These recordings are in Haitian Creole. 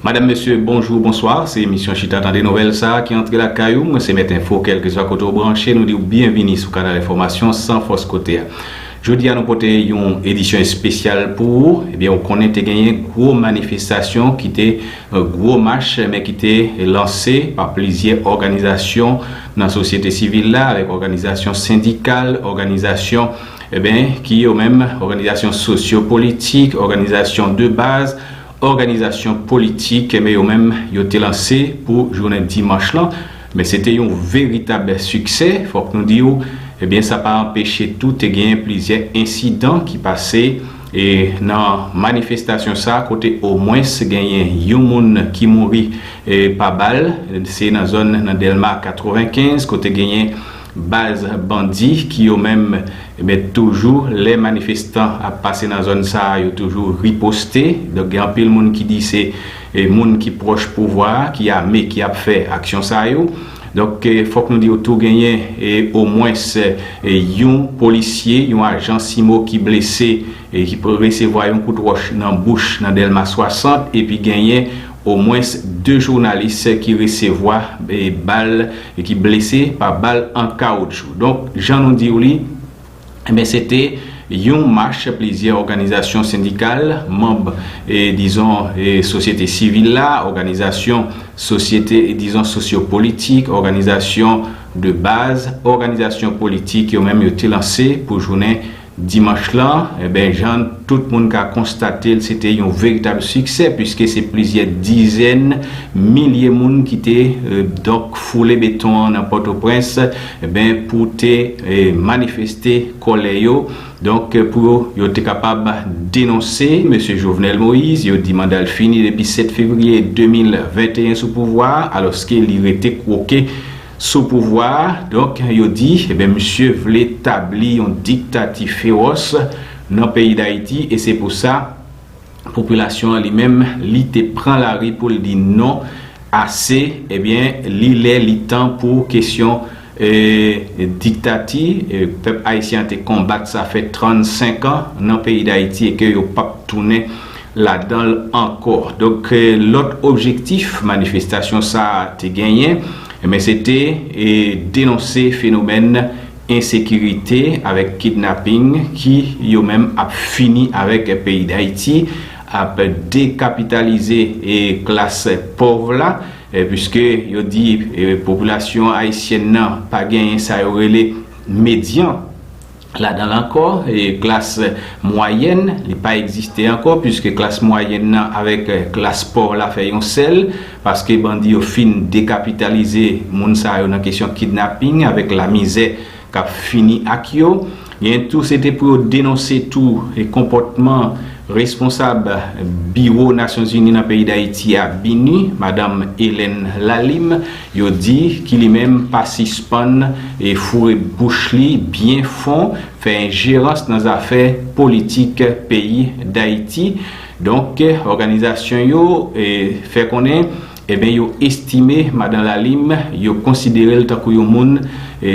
Madam mesye bonjou bonswa se emisyon chita tande nouvèl sa ki antre lakay ou mwen se mèt enfo kèlkeswa kote ou branche nou diw byenvini sou kanal enfòmasyon san fòs kote a jodi a nou pote yon edisyon espesyal pou ou ebyen ou konnen te genyen gwo manifestasyon ki te gwo mach men ki te lanse pa plizyè òganizasyon nan sosyete sivil la avèk òganizasyon sendikal òganizasyon Enben, ki yo menm? Òganizasyon sosyo politik, òganizasyon de baz, òganizasyon politik. Enben yo menm, yo te lanse pou jounen dimanch lan. Men se te yon veritab siksè. Fòk nou di w, enben sa pa anpeche tou te genyen plizyè ensidan ki pase e nan manifestasyon sa kote omwens genyen yon moun ki mouri pa bal. Se nan zòn nan Dèlma 95 kote genyen. Baz bandi ki yo menm ebyen toujou lè manifestan ap pase nan zòn sa a yo toujou riposte. Donk gen anpil moun ki di se moun ki pwòch pouvwa a ki ame ki ap fè aksyon sa yo. Donk fòk nou di w tou genyen omwens yon polisye, yon ajan CIMO ki blese, ki resevwa yon kout wòch nan bouch nan Dèlma 60 epi genyen Omwens 2 jounalis ki resevwa bal e ki blese pa bal an kawoutchou. Donk, jan nou di w li, enben se te yon mach plizyè òganizasyon sendikal, manb dizon sosyete sivil la, òganizasyon sosyete dizon sosyopolitik, òganizasyon de baz, òganizasyon politik yo menm yo te lanse pou jounen Dimanch lan, enben jan tout moun ka konstate l se te yon veritab siksè puiske se plizyè dizèn milye moun ki te donk foule beton an nan Pòtoprens enben pou te manifeste kòlè yo donk pou yo te kapab denonse Mesye Jovenel Moïse yo di manda l fini depi 7 fevriye 2021 sou pouvwa a alòske li rete kwoke Sou pouvwa a, donk, yo di, eben misye vle tabli yon diktati fewòs nan peyi Dayiti e se pou sa, popilasyon an li menm, li te pran lari pou l di non, ase, eben li lè li tan pou kesyon diktati, pèp ayisyen an te konbat sa fè 35 an nan peyi Dayiti e ke yo p ap tounen. ladan l ankò. Donk lòt objektif manifestasyon sa a te genyen enben se te denonse fenomèn ensekirite avèk kidnaping ki yo menm ap fini avèk peyi Dayiti, ap dekapitalize klas pòv la puiske yo di popilasyon ayisyèn nan pa genyen sa yo rele medyan. Ladan l ankò, klas mwayèn, li pa egziste ankò puiske klas mwayèn nan avèk klas pòv la fè yon sèl, paske bandi yo fin dekapitalize moun sa yo nan kesyon kidnaping avèk lamizè k ap fini ak yo. Genyen tou se te pou yo denonse tou konpòtman responsab biwo Nasyonzini nan peyi Dayiti a, BINUH, madanm Helen Lalime, Yo di ki li menm pa sispann foure bouch li byen fon, fè enjerans nan zafè politik peyi Dayiti. Donk, òganizasyon yo fè konnen eben yo estime Madan Lalime, yo konsidere l tankou yon moun,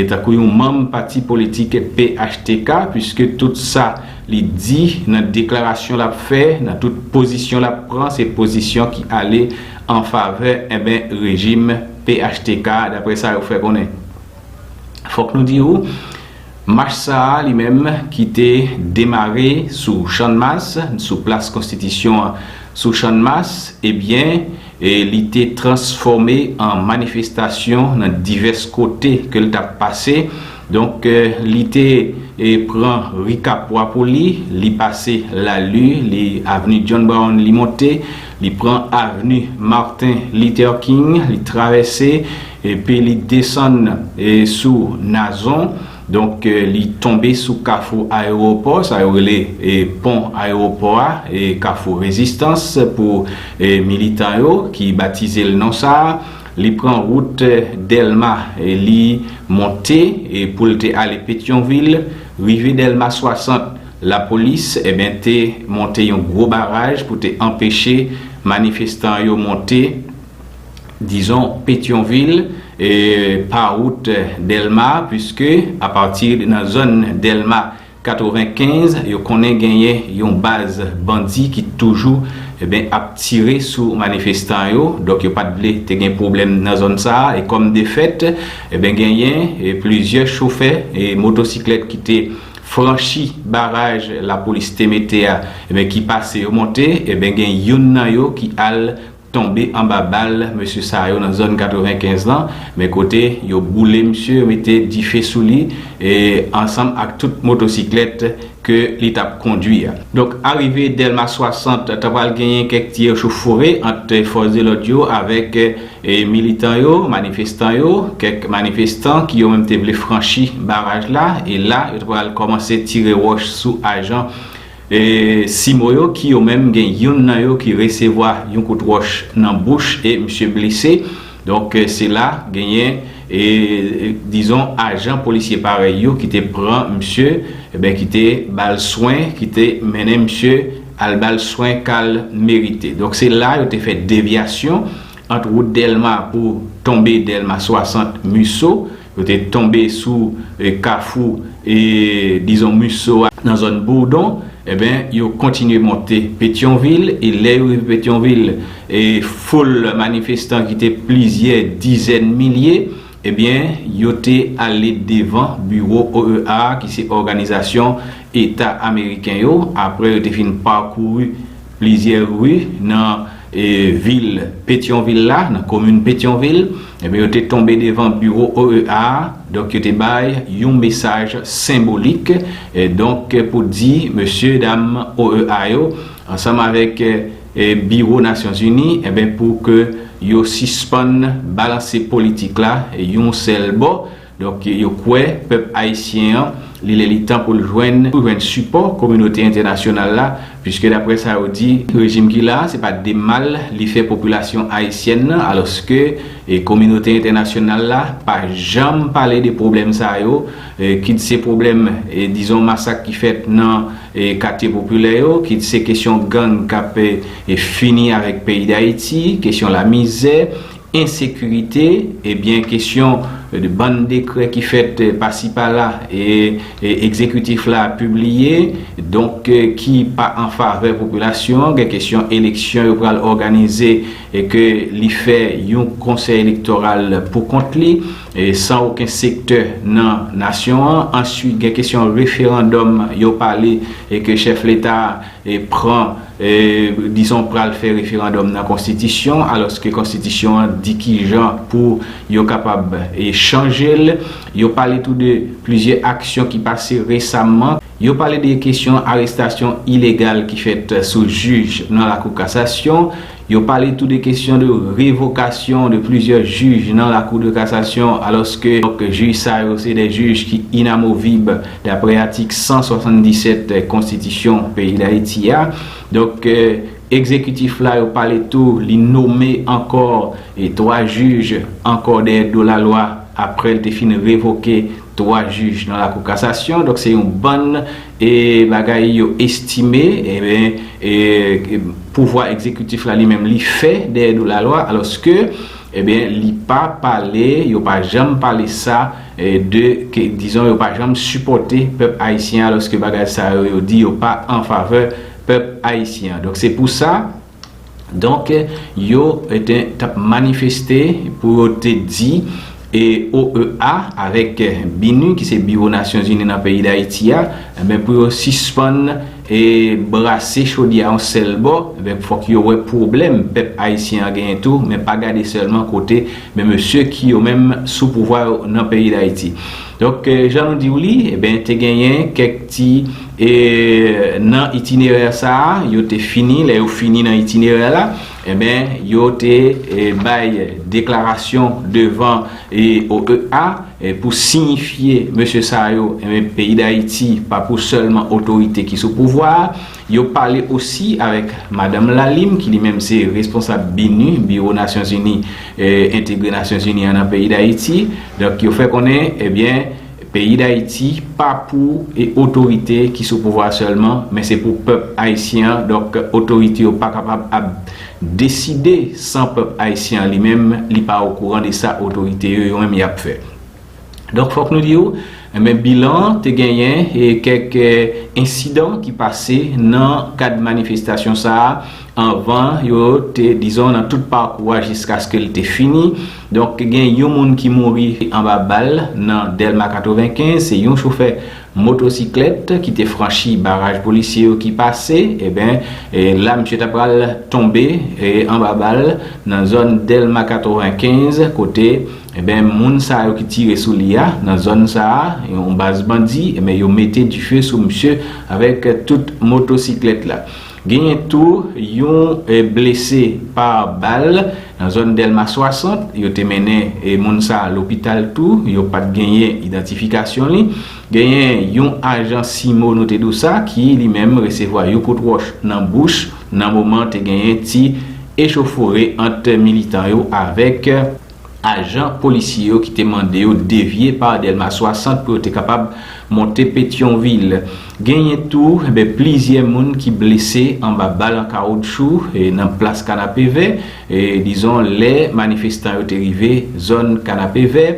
tankou yon manm pati politik phtk, puiske tout sa li di nan deklarasyon l ap fè, nan tout pozisyon l ap pran, se pozisyon ki ale an favè enben rejim phtk daprè sa yo fè konnen. Fòk nou di ou mach sa a li menm ki te demare sou channmas, sou plas konstitisyon an sou channmas ebyen li te transfòme an manifestasyon nan divès kote ke l t ap pase donk li te pran ri kapwa pou li, li pase lalu, li avni John Brown li monte. Li pran avni Martin Luther King, li travèse epi li desann sou Nazon. Donk, li tonbe sou kafou ayewopò, sa yo rele pon ayewopò a, kafou rezistans pou militan yo ki batize l non sa a. Li pran wout Dèlma, li monte pou l te ale Petyonvil, rive Dèlma 60. Lapolis eben te monte yon gwo baraj pou te anpeche manifestan yo monte dizon Petyonvil pa wout Dèlma puiske apati nan zòn Dèlma 95 yo konnen genyen yon baz bandi ki toujou eben ap tire sou manifestan yo donk yo pat vle te gen pwoblèm nan zòn sa e kòm defèt eben genyen plizyè chofè motosiklèt ki te franchi baraj lapolis te mete a ebyen ki pase yo monte ebyen gen youn nan yo ki al tonbe anba bal mesye sa yo nan zòn 95 lan men kote yo boule misye yo mete dife sou li e ansanm ak tout motosiklèt ke li tap kondwi a. Donk arive Dèlma 60 ta pral genyen kèk ti echofore ant fòs de lòd yo avèk Militan yo, manifestan yo, kèk manifestan ki yo menm te vle franchi baraj la e la yo te pral kòmanse tire wòch sou ajan CIMO yo ki yo menm gen youn nan yo ki resevwa yon kout wòch nan bouch e misye blese. Donk se la genyen dizon ajan polisye parèy yo ki te pran misye, ki te ba l swen, ki te mennen misye. Al ba l swen k al merite. Donk se la yo te fè devyasyon ant wout Dèlma pou tonbe Dèlma 60 Musso. Yo te tonbe sou kafou dizon Musso a nan zòn Bourdon. Enben, yo kontinye monte Petyonvil e lè yo rive Petyonvil, foul manifestan ki te plizyè dizèn milye Ebyen, yo te ale devan biwo OEA a ki se Òganizasyon Eta Ameriken yo, apre yo te fin pakouri plizyè ri nan vil Petyonvil la, nan komin Petyonvil, ebyen yo te tonbe devan biwo OEA a, donk yo te bay yon mesaj senbolik, donk pou di mesye dam OEA yo ansanm avèk. biwo nasyon zini enben pou ke yo sispann balanse politik la yon sèl bò donk yo kwè pèp ayisyen an li lè li tan pou l jwenn pou jwenn sipò kominote entènasyonal la piske daprè sa yo di rejim ki la se pa de mal li fè popilasyon ayisyèn nan alòske kominote entènasyonal la pa janm pale de pwoblèm sa yo kit se pwoblèm dizon masak ki fèt nan. katye popilè yo, kit se kesyon gang k ap fini avèk peyi Dayiti, kesyon lamizè, ensekirite, ebyen kesyon bann dekrè ki fèt pasi pala e egzekitif la pibliye, donk ki pa an favè popilasyon an, gen kesyon eleksyon yo pral òganize e ke li fè yon konsèy elektoral pou kont li. san oken sektè nan nasyon an, answit gen kesyon referandòm yo pale e ke chèf leta pran dizon pral fè referandòm nan konstitisyon alòske konstitisyon an di kijan pou yo kapab chanje l, yo pale tou de plizyè aksyon ki pase resamman, yo pale de kesyon arestasyon ilegal ki fèt sou jij nan lakou kasasyon. Yo pale tou de kesyon de revokasyon de plizyè jij nan Lakou de Kasasyon alòske jij sa yo se 2 jij ki inamovib daprè atik 177 konstitisyon peyi Dayiti a. Donk egzekitif la yo pale tou li nome ankò 3 jij ankò dèyè do lalwa aprè l te fin revoke 3 jij nan Lakou Kasasyon. Donk se yon bann. E bagay yo estime, enben, e pouvwa egzekitif la li menm li fè dèyè do lalwa, alòske, enben, li pa pale, yo pa janm pale sa, de ke, dizon, yo pa janm sipòte pèp ayisyen an, alòske bagay sa yo yo di yo pa anfavè pèp ayisyen an. Donk se pou sa. Donk yo te tap manifeste pou yo te di OEA avèk BINUH ki se biwo Nasyonzini nan peyi Dayiti a pou yo sispann brase chodyè yon sèl bò fòk yo wè pwoblèm pèp ayisyen an genyen tou men pa gade sèlman kote mesye ki yo menm sou pouvwa yo nan peyi Dayiti. Donk, jan nou di w li, enben te genyen kèk ti e nan itinerè sa a, yo te fini, lè yo fini nan itinerè la, enben yo te bay deklarasyon devan OEA pou siyifye mesye sa yo, enben peyi Dayiti pa pou sèlman otorite ki sou pouvwa a, Yo pale osi avèk Madanm Lalim ki li menm se responsab BINUH, Biwo Nasyon Zini Entegre Nasyon Zini an nan peyi Dayiti. Donk yo fè konnen ebyen peyi Dayiti pa pou otorite ki sou pouvwa sèlman men se pou pèp ayisyen an donk otorite yo pa kapab ap deside san pèp ayisyen an li menm li pa okouran de sa otorite yo yo menm y ap fè. Donk fòk nou di w, men bilan an te genyen kèk ensidan ki pase nan kad manifestasyon sa a anvan yo te dizon nan tout pakou a jiskaske l te fini. Donk gen yon moun ki mouri anba bal nan Dèlma 95, se yon chofè motosiklèt ki te franchi baraj polisye yo ki pase eben la misye ta pral tonbe anba bal nan zòn Dèlma 95 kote Enben moun sa yo ki tire sou li a nan zòn sa a yon baz bandi enben yo mete dife sou misye avèk tout motosiklèt la. Genyen tou yon blese pa bal nan zòn Dèlma 60, yo te mennen moun sa a lopital tou, yo pat genyen idantifikasyon li. Genyen yon ajan CIMO nou te di w sa ki li menm resevwa yon kout wòch nan bouch nan moman te genyen ti echofore ant militan yo avèk. Ajan polisye yo ki te mande yo devye pa Delma 60 pou yo te kapab monte Petyonvil. Genyen tou plizyè moun ki blese anba bal an kawoutchou nan plas Kanapevè, dizon lè manifestan yo te rive zòn Kanapevè.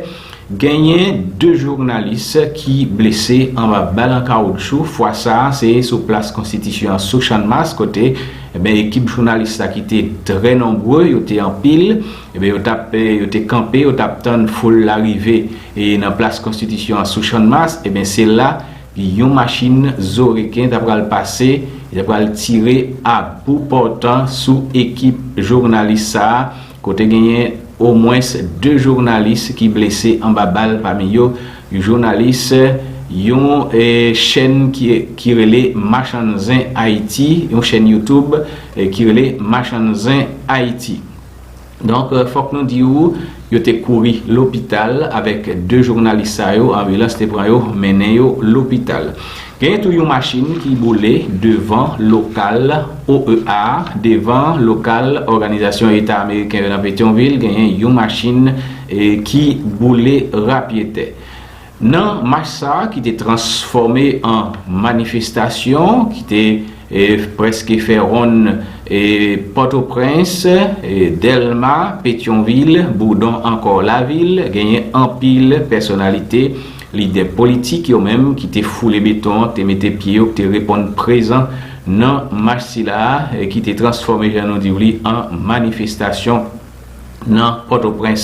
Genyen 2 jounalis ki blese anba bal an kawoutchou, fwa sa a se sou plas konstitisyon an sou Channmas kote ekip jounalis la ki te trè nonbre, yo te anpil, Ebyen yo tap yo te kanpe yo tap tann foul la rive e nan plas konstitisyon an sou channmas ebyen se la yon machin zo reken ta pral pase li ta pral tire a bou pòtan sou ekip jounalis sa a kote genyen omwens 2 jounalis ki blese anba bal pami yo yon jounalis yon chèn ki rele machann zen ayiti yon chèn youtube ki rele machann zen ayiti. Donk, fòk nou di ou, yo te kouri lopital avèk 2 jounalis sa yo, anbilans te pran yo, mennen yo lopital. Genyen tou yon machin ki boule devan lokal OEA a, devan lokal Òganizasyon Eta Ameriken yo nan Petyonvil, genyen yon machin ki boule rapyetè. Nan mach sa a ki te transfòme an manifestasyon ki te prèske fè wonn Pòtoprens, Dèlma, Petyonvil, Boudon ankò lavil, genyen anpil pèsonalite, lidè politik yo menm ki te foule beton, te mete pye yo, ki te reponn prezan nan mach sila a ki te transfòme jan nou di w li an manifestasyon. nan Pòtoprens.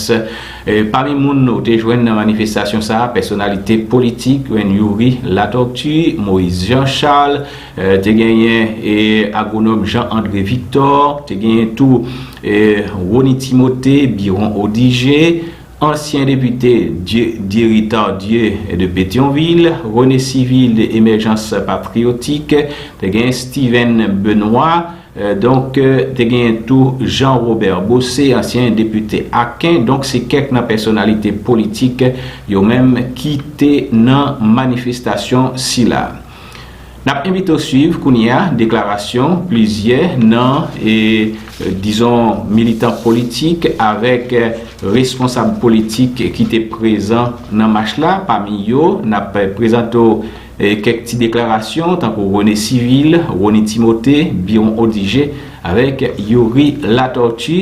Pami moun nou te jwenn nan manifestasyon sa a, pèsonalite politik Reine Youri Latortue, Moïse Jean Charles, te genyen agwonòm Jean André Victor, te genyen tou Rony Timothée, Biron Odigé, ansyen depite Dieudiery Tardieu de Pétion-Ville, René Civil de Émergence Patriotique, te genyen Steven Benoît, Donk, te genyen tou Jean Robert Bossé, ansyen depite Aken. Donk, se kèk nan pèsonalite politik yo menm ki te nan manifestasyon sila. N ap envite w suiv kounye a deklarasyon plizyè nan, dizon, militan politik avèk responsab politik ki te prezan nan mach la. Pami yo, n ap prezante w Kèk ti deklarasyon tankou René Civil, Rony Timothé, Biron Odigé avèk Youri Latortue.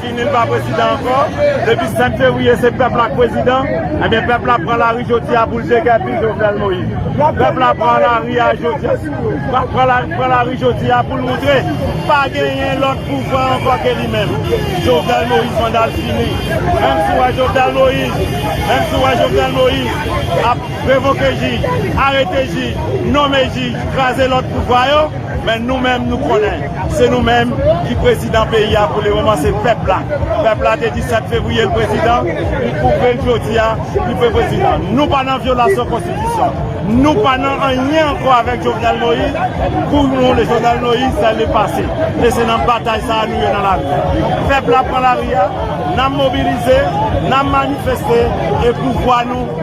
Fini l pa prezidan ankò, depi 5 fevriye se pèp la k prezidan, ebyen pèp la pran lari jodi a pou l degèpi Jovenel Moïse. Pèp la pran lari a jodi a, pran lari jodi a pou l moutre pa genyen lòt pouvwa ankò ke li menm. Jovenel Moïse manda l fini. Menm si w wè Jovenel Moïse, menm si w wè Jovenel Moïse ap revoke jij, arete jij, nome jij, kraze lòt pouvwa yo, Men nou menm nou konnen se nou menm ki prezidan peyi a pou le moman se pèp la. Pèp la te di 7 fevriye l prezidan, li pwouve l jodi a li pe prezidan. Nou pa nan vyolasyon konstitisyon, nou pa nan anyen ankò avèk Jovenel Moïse, pou nou le Jovenel Moïse se le pase. E se nan batay sa a nou ye nan lari a. Pèp la pran lari a, nan mobilize, nan manifeste e pouvwa nou.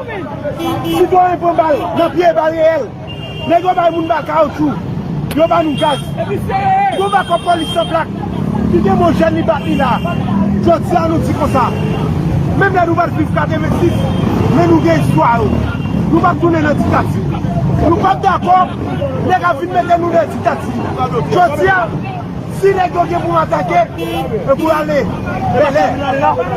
Sitwayen pran bal nan pye e bal reyèl. Nèg yo bay moun bal kawoutchou. Yo ba nou gaz. Gwo makòp polis san plak ki gen mo jèn li bat li la. Jodi a nou di konsa. Menm lè nou pa t viv 86, men nou gen istwa yo. Nou pa p tounen nan diktati. Nou pa p dakò nèg ap vin mete nou nan diktati. Jodi a. Si nèg yo gen pou atake, yo pou ale Bèlè,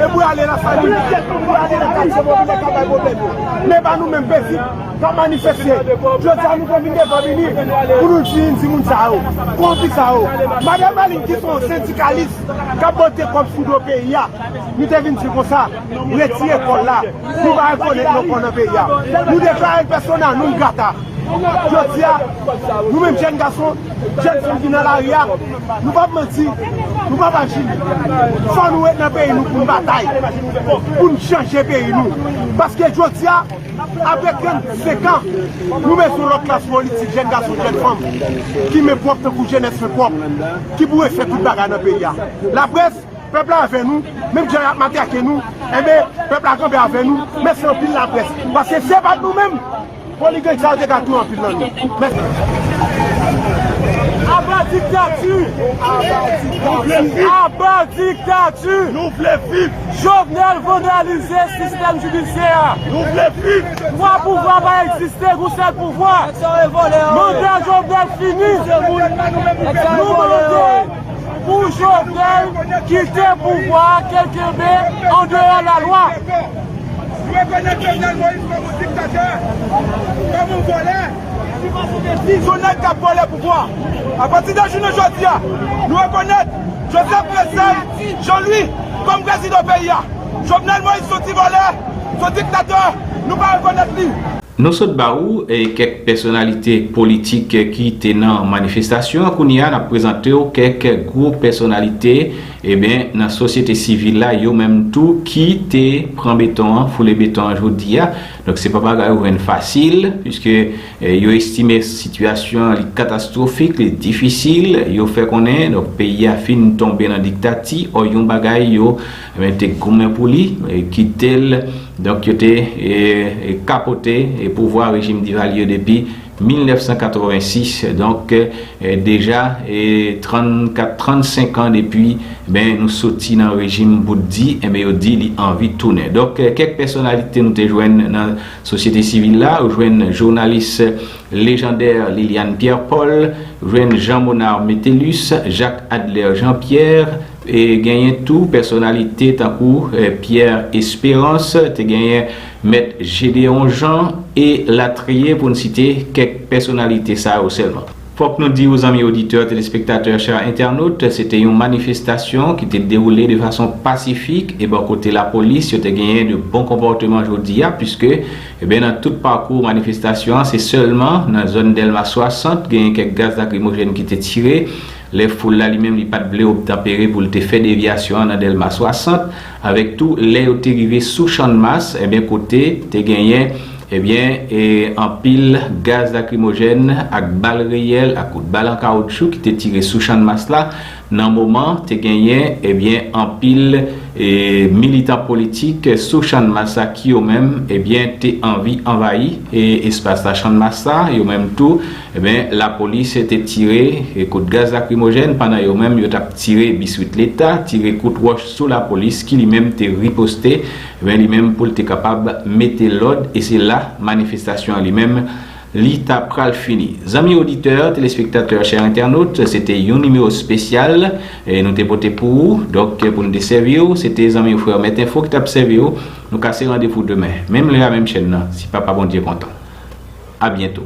yo pou ale Lasalin, yo pou ale nan katye popilè k ap bay pwoblèm yo. Men pa nou menm petit k ap manifeste. Jodi a nou te vin devan Minis pou nou di yon timoun sa yo, konzi sa yo. Madan Malin ki se yon sendikalis k ap bote kòb sou do peyi a, nou te vin di l konsa, retire kò l la, nou pa rekonèt non kò nan peyi a. Nou deklare l persona non grata. Jodi a, nou menm jèn gason. Jèn fanm ki nan lari a, nou pap manti, nou pap aji. Fò nou ret nan peyi nou pou n batay, pou n chanje peyi nou. Paske jodi a, apre 35 an, nou bezwen yon lòt klas politik, jèn gason, jèn fanm, ki men pwòp tankou jenès men pwòp, ki pou refè tout bagay nan peyi a. Laprès, pèp la avè nou, menm jan y ap matrake nou, enben, pèp la kanpe avè nou, mèsi anpil laprès. Paske si se pa t nou menm. Foli gang sa yo te ka touye anpil nan nou. Mèsi. Aba diktati! Aba diktati! Aba diktati! Nou vle viv! Jovenel vandalize sistèm jidisyè a! Nou vle viv! Twa pouvwa pa egziste, gon sèl pouvwa! Manda Jovenel fini! Nou mande pou Jovenel kite pouvwa a, ke l kenbe andeyò lalwa! M rekonèt Jovenel Moïse kòm yon diktatè, kòm yon vòlè, ki pase gen pi yon nèg k ap vòlè pouvwa. Apati de jounen jodi a, nou rekonèt Joseph Precelle Jean Louis kòm prezidan peyi a. Jovenel Moïse se yon ti vòlè, se yon diktatè, nou pa rekonèt li. Nou sot ba ou kèk pèsonalite politik ki te nan manifestasyon an, kounye a n ap prezante w kèk gwo pèsonalite. Eben nan sosyete sivil la yo menm tou ki te pran beton an, foule beton an jodi a. Donk se pa bagay ou jwenn fasil puiske yo estime sitiyasyon an li katastwofik, li difisil. Yo fè konnen donk peyi a fin tonbe nan diktati ò yon bagay yo te goumen pou li kite l donk yo te kapote pouvwa rejim Divalye depi. 1986 donk deja 34 35 an depi ben nou soti nan rejim bout di enben yo di li anvi tounen donk kèk pèsonalite nou te jwenn nan sosyete sivil la ou jwenn jounalis lejandè Liliane Pierre Paul jwenn Jean Monard Métellus Jacques Adler Jean Pierre genyen tou pèsonalite tankou Pierre Espérance te genyen Mèt Jedeon Jean e latriye pou n site kèk pèsonalite sa yo sèlman. Fòk nou di ou zanmi oditè, telespektatè, chè entènot, se te yon manifestasyon ki te dewoule de fason pasifik e bò kote lapolis yo te genyen de bon konpòteman jodi a puiske eh nan tout pakou manifestasyon an se sèlman nan zòn Dèlma 60 genyen kèk gaz lakrimojèn ki te tire lè foul la li menm li pat vle obtanpere pou l te fè devyasyon an nan Dèlma 60 Avèk tou lè yo te rive sou Channmas ebyen kote te genyen ebyen e anpil gaz lakrimojèn ak bal reyèl ak kout bal an kawoutchou ki te tire sou Channmas la nan moman te genyen ebyen anpil e militan politik sou Channmas la ki yo menm ebyen te anvi anvayi e espas la Channmas la yo menm tou Enben, lapolis te tire kout gaz lakrimojèn pandan yo menm yo t ap tire biswit leta, tire kout wòch sou lapolis ki li menm te riposte, enben li menm pou l te kapab mete lòd e se la manifestasyon an li menm li ta pral fini. Zanmi oditè, telespektatè, chè entènot, se te yon nimewo spesyal nou te pote pou ou, donk pou n te sèvi w, se te zanmi w frè w Mèt Enfo ki t ap sèvi w, nou kase randevou demen, menm lè a menm chèn nan, si Papa Bondye kontan. Abyento.